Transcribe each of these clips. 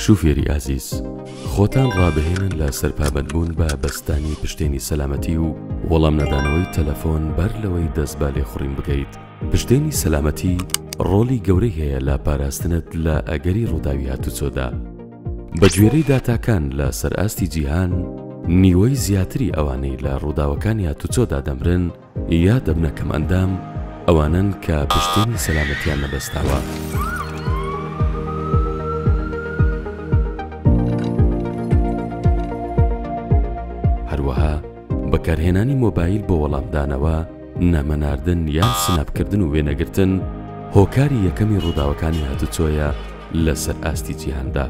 شوفێری ئازیز خۆتان ڕابهێنن لە سەر پابەندبوون بە بەستانی پشتێنی سەلامەتی و وەڵام نەدانەوەی تەلەفۆن بەر لەوەی دەست بالێ خوڕین بکەیت پشتێنی سەلامەتی ڕۆلی گەورەی هەیە لە پاراستنت لە ئەگەری ڕووداوی هاتوچۆدا بەگوێرەی داتاکان لە سەرئاستی جیهان، نیوەی زیاتری ئەوانەی لە ڕووداوەکانی هاتوچۆدا دەمرن یا دەبنە کەمئەندام ئەوانەن کە پشتێنی سەلامەتیان نەبەستاوە. بەکارهێنانی مۆبایل بۆ وەڵامدانەوە، نامە ناردن یان سناپ کردن و وێنەگرتن هۆکاری یەکەمی ڕووداوەکانی هاتوچۆیە لەسەر ئاستی جیهاندا.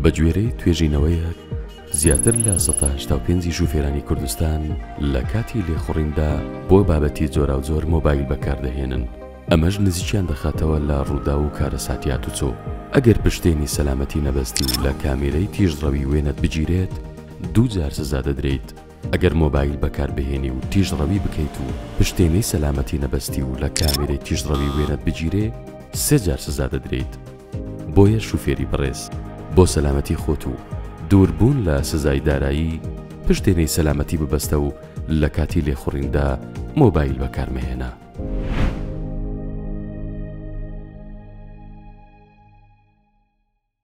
بەگوێرەی توێژینەوەیەک، زیاتر لە سەتا هەشتا و پێنج ی شوفێرانی کوردستان لە کاتی لێخوڕیندا بۆ بابەتی جۆراوجۆر مۆبایل بەکاردەهێنن، ئەمەش نزیکیان دەخاتەوە لە ڕووداو و کارەساتی هاتوچۆ. ئەگەر پشتێنی سەلامەتی نەبەستی و لە کامێرەی تیژڕەوی وێنەت بگیرێت، دوو جار سزا دەدرێیت ئەگەر مۆبایل بەکاربهێنی و تیژڕەوی بکەیت و پشتێنەی سەلامەتی نەبەستی و لە کامێرەی تیژڕەوی وێنەت بگیرێ سێ جار سزا دەدرێیت بۆیە شوفێری بەڕێز بۆ سەلامەتی خۆت و دوور بوون لە سزای دارایی پشتێنەی سەلامەتی ببەستە و لە کاتی لێخوڕیندا مۆبایل بەکارمەهێنە.